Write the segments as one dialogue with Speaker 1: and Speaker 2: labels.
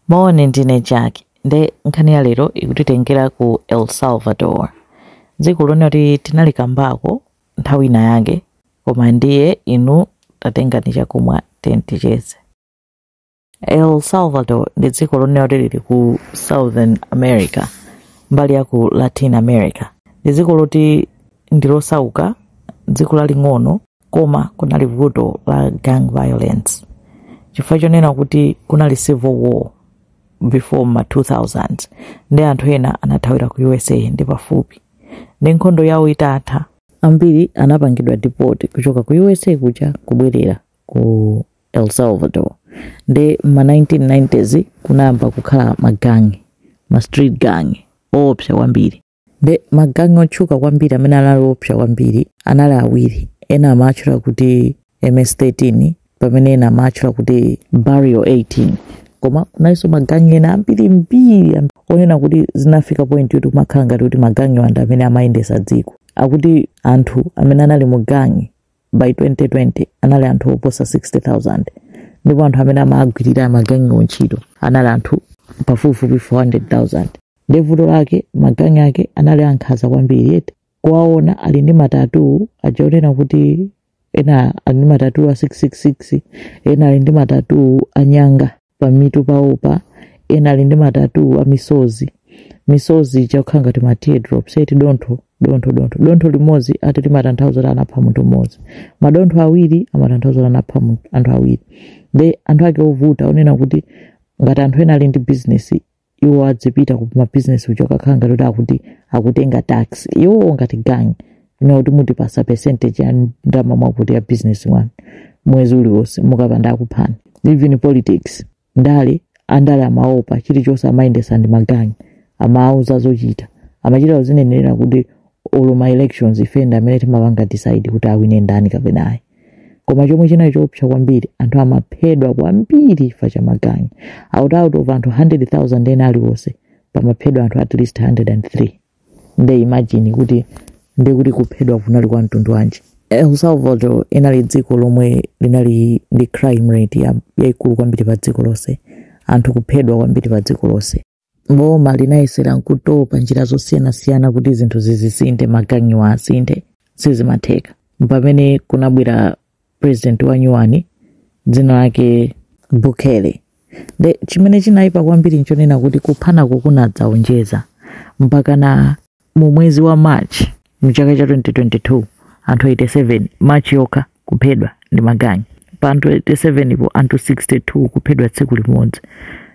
Speaker 1: Moni, ndine Jack. Nde nkhani ya lero ikutitengera ku El Salvador. Dziko lonena kuti tinalikambako nthawi ina yake, koma ndiye inu tatengani chakumwa then ticheze. El Salvador ndi dziko lonena kuti lili ku Southern America, mbali ya ku Latin America. Ndi dziko loti ndilosauka, dziko laling'ono, koma kunali vuto la gang violence chifukwa chonena kuti kunali civil war before ma 2000 nde anthu ena anathawira ku usa ndi pafupi nde nkhondo yawo itatha ambiri anapangidwa deport kuchoka ku usa kuja kubwerera ku el salvador nde mma 1990s kunayamba kukhala magangi ma street gang oopsa kwambiri Nde magangi otchuka kwambiri amene anali oopsa kwambiri anali awiri, ena amawatchula kuti MS-13 pamene ena amawatchula kuti Barrio 18. Koma kunalinso magangi ena ambirimbiri am- onena kuti zinafika point yoti kumakhala ngati kuti magangiwa ndi amene amayendetsa dziko. Akuti anthu amene anali mu gangi by 2020 anali anthu oposa 60000 ndipo anthu amene amagwirira magangiwo ntchito anali anthu pafupifupi 400000 nde vuto lake magangi ake anali ankhanza kwambiri eti kuwaona ali ndi matatu aja onena kuti ena ali ndi matatu a 666 ena ali ndi matatu anyanga pamutu pawopa ena ali ndi matatu a misozi misozi ija kukhala ngati ma teardrops eti dontho dontho dontho dontho limodzi ati limatanthauza kuti anapha munthu mmodzi madontho awiri amatanthauza kuti anapha munthu- anthu awiri nde anthu ake ovuta onena kuti ngati anthu ena ali ndi bizinesi iwo adzipita ku mabizinesi kuja kukhala ngati kuti akuti akutenga tax iwowo ngati gang nkunena kuti muzitipatsa percentage ya ndalama mwakuti ya business yanu mwezi uliwonse mukapanda akuphani even politics ndale andale amaopa chilichonse amayendetsa ndi magangi amawauza zochita amachita kuzinenera kuti olo ma elections ife ndi amene timapanga decide kuti awine ndani kapena ayi koma chomwe chinali choopsa kwambiri anthu amaphedwa kwambiri chifukwa cha magangi out out of anthu 100000 ena aliwonse pamaphedwa anthu at least 103 nde imagine kuti nde kuti kuphedwa kunali kwa mtundu wanji el salvador inali dziko lomwe linali ndi crime rate ya- yaikulu kwambiri pa dziko lonse anthu kuphedwa kwambiri pa dziko lonse boma linayesera nkutopa njira zosiyanasiyana kuti zinthu zisinthe magangiwa asinthe sizimatheka pamene kunabwera president wa nyuwani dzina lake bukele nde chimene chinayipa kwambiri nchonena kuti kuphanako kunadzaonjeza mpakana Mu mwezi wa March mu chaka cha 2022 anthu 87 March yokha kuphedwa ndi magang'i. Pa anthu 87 po anthu 62 kuphedwa tsiku limodzi.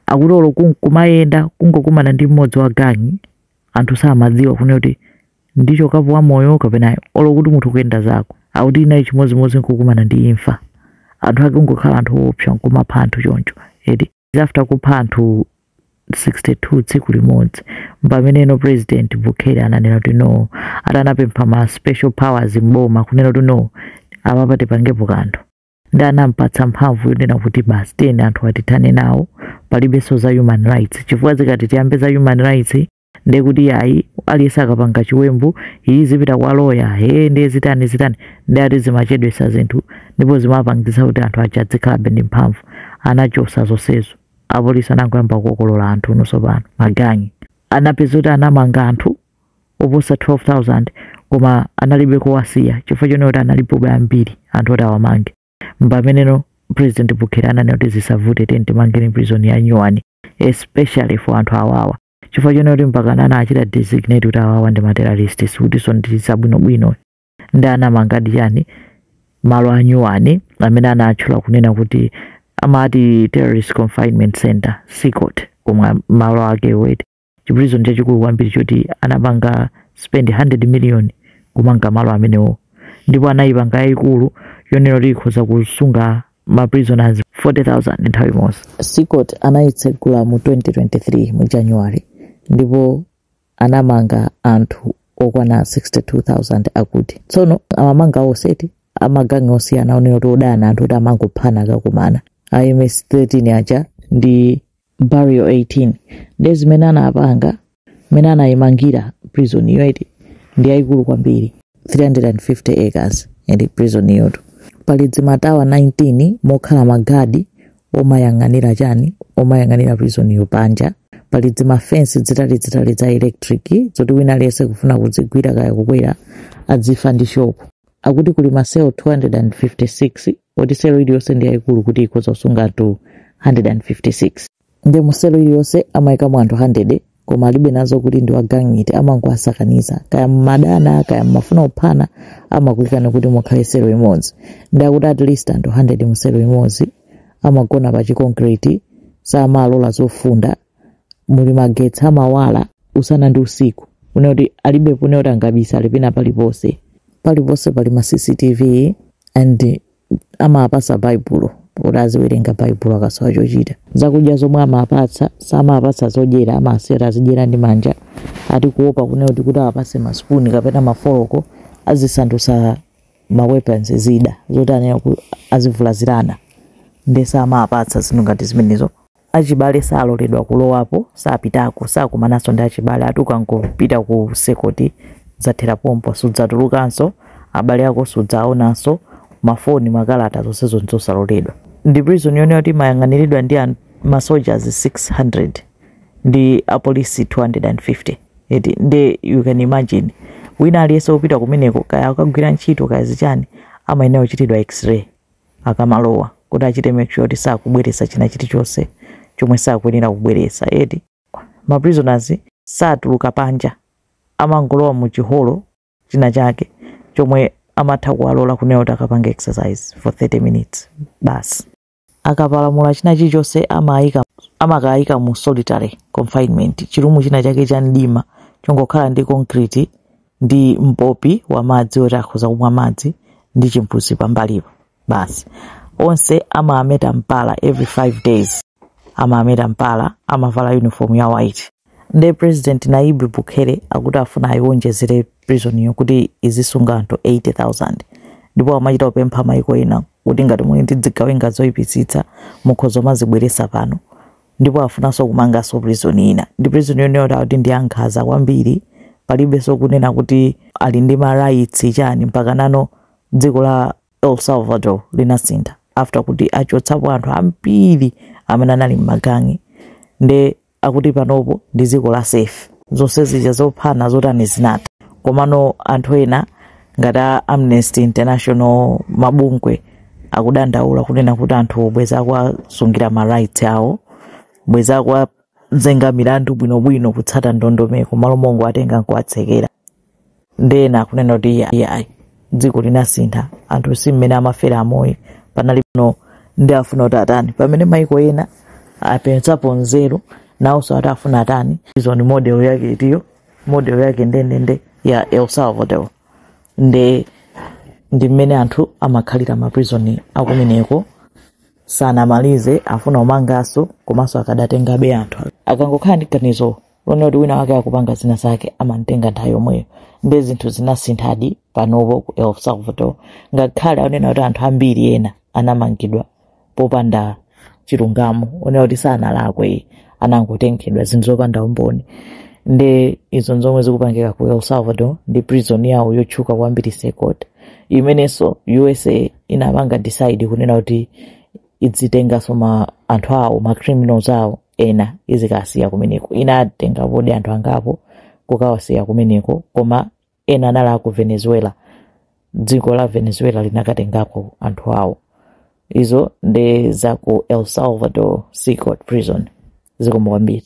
Speaker 1: Akuti olo kunkumayenda kungokumana ndi mmodzi wa gang'i anthu samadziwa kunena kuti ndichokapo wa moyo kapena olo kuti munthu kuyenda zako. Akuti inali chimodzimodzi nkukumana ndi imfa. Anthu ake kungokhala anthu oopsa nkumapha anthu choncho. Eti after kupha anthu 62 tsiku limodzi mpameneno president bukele ananena kuti no ati anapempha ma special powers mboma kunena kuti no apapa tipangepo kanthu ndi anampatsa mphamvu yonena kuti basi tiyeni anthu atithane nawo palibenso za human rights chifukwa zikati tiyambe za human rights ndiye kuti ayi aliyense akapanga chiwembu iyi zipita kwa loya ee ndiye zitani zitani ndiye ati zimachedwesa zinthu ndipo zimapangitsa kuti anthu aja adzikhalabe ndi mphamvu anachosa zonsezo apolisi anangoyamba kukokolola anthu unotsopano magang'i anapeza kuti anamanga anthu oposa 12000 koma analibe kowasiya chifukwa chonena kuti analipobe ambiri anthu oti awamange mpameneno president bukele ananena kuti zisavute timangeni prison ya nyuwani especially for anthu awawa chifukwa chonena kuti mpakana anachita designate kuti awawa ndi materrorist sikutinso ndi za bwinobwino ndi anamangadi chani malo anyuwani amene anatchula kunena kuti amati terrorist confinement center cecot komwe malo ake eti chipulizoni chachikulu kwambiri choti anapanga spend 100 million kumanga malo amenewo ndipo anayipanga yayikulu yonena kuti ikhoza kusunga ma prisoners 40000 nthawi imodzi cecot anayitsegula mu 2023 mu january ndipo anamanga anthu okwana 62000 akuti tsono amamanga onse eti amagangi osiyana onena kuti odana anthu kuti amangophana akakumana ms 13 aja ndi barrio 18 ndiye zimene anapanga mmene anayimangira prison iyo eti ndi yayikulu kwambiri 350 acres ili prison iyotu pali dzimatawa 19 mokhala magadi omayang'anira chani omayang'anira prison iyo panja pali dzimafensi dzitalidzitali dza electric zoti wina aliyense kufuna kudzigwira kaya kukwera adzifa ndi shock Akuti kuli maselo 256 oti selo iliyonse ndi yayikulu kuti ikhoza kusunga anthu 156. Nde mu selo iliyonse amayikamo anthu 100 koma alibe nazo kuti ndi wa gang iti amangowasakaniza kaya mumadana kaya mumafuna kuphana amakuikani kuti mukhale selo imodzi. Nde akuti at least anthu 100 mu selo imodzi amagona pa chi concrete samalola zofunda muli magetsi amawala usana ndi usiku kunena kuti alibe kunena kuti angabisa ali pena paliponse paliponse pali ma cctv and amapatsa baibulo kuti aziwerenga baibulo akasowa chochita zakudya zomwe amapatsa samapatsa zodyera amasiya kuti azidyera ndi manja ati kuopa kunena kuti kuti awapatse masipuni kapena mafoloko azisandutsa ma weapons zida zoti anena kuti azivulazirana nde samapatsa zinthu ngati zimenezo achibale saloledwa kulowapo, sapitako, sakumananso ndi achibale ati ukangopita ku CECOT zathera pompo sudzatulukanso abale ako sudzawaonanso mafoni makalata zonsezo nzosaloledwa ndi prison yonena kuti imayang'aniridwa ndi an- ma soldiers 600 ndi apolisi 250 eti nde you can imagine wina aliyense wopita kumeneko kaya akagwira ntchito kaya zichani amayenera kuchitidwa x-ray akamalowa kuti achite make sure kuti sakubweretsa china chilichonse chomwe sakuyenera kubweretsa eti. Ma prisoners satuluka panja, amangolowa mu chi hall china chake chomwe amatha kuwalola kunena kuti akapange exercise for 30 minutes basi. Akapalamula china chilichonse amaika amakaika mu solitary confinement, chirumu china chake cha mdima chongokhala ndi concrete ndi mpopi wa madzi oti akhoza kumwa madzi ndi chimbuzi pambalipo basi onse amaameta mpala every five days amaameta mpala amavala uniform ya white nde president Nayib Bukele akuti afuna ayiwonjezere prisoniyo kuti izisunga anthu 80000 ndipo amachita kupempha maiko ena kuti ngati muli ndi zigawenga zoyipitsitsa mukhoza kumazibweretsa pano ndipo afunanso kumanganso prison ina ndi prison yonena kuti akuti ndi ankhanza kwambiri palibenso kunena kuti ali ndi ma rights chani mpaka nano dziko la el salvador linasintha after kuti achotsapo anthu ambiri amene anali m'magangi nde akuti panopo ndi dziko la safe zonse zija zophana zotani zinatha komano anthu ena ngati a amnesty international mabungwe akudandaula kunena kuti anthu bwezi akuwasungira ma rights awo bwezi akuwazenga milandu bwinobwino kutsata ndondomeko malo mongo atenga nkuwatsekera nde ena akunena kuti iye iye ayi dziko linasintha anthu si mmene amafera amoyo panali pano nde afuna kuti atani pamene maiko ena apezapo nzeru nawonso ati afuna atani prison model yake iti iyo model yake ndendende ya el salvador nde ndi mmene anthu amakhalira maprizoni akumeneko sanamalize afuna kumanganso komanso akadatengabe anthu akangokhala ndi ganizo lonena kuti wina wake akupanga zina zake amamtenga nthawi yomweyo nde zinthu zinasinthadi panopo ku el salvador ngakhale akunena kuti anthu ambiri ena anamangidwa popanda chilungamo onena kuti sanalakwe anangotengedwa zinthu zopanda umboni nde izo nzomwe zikupangika ku el salvador ndi prison yawo yotchuka kwambiri cecot imenenso usa inapanga decide kunena kuti idzitenganso anthu awo ma criminals awo ena izikawasiya kumeneko inatenga podi anthu angapo kukawasiya kumeneko koma ena anali aku venezuela dziko la venezuela linakatengako anthu awo izo nde za ku el salvador cecot prison zikomo kwambiri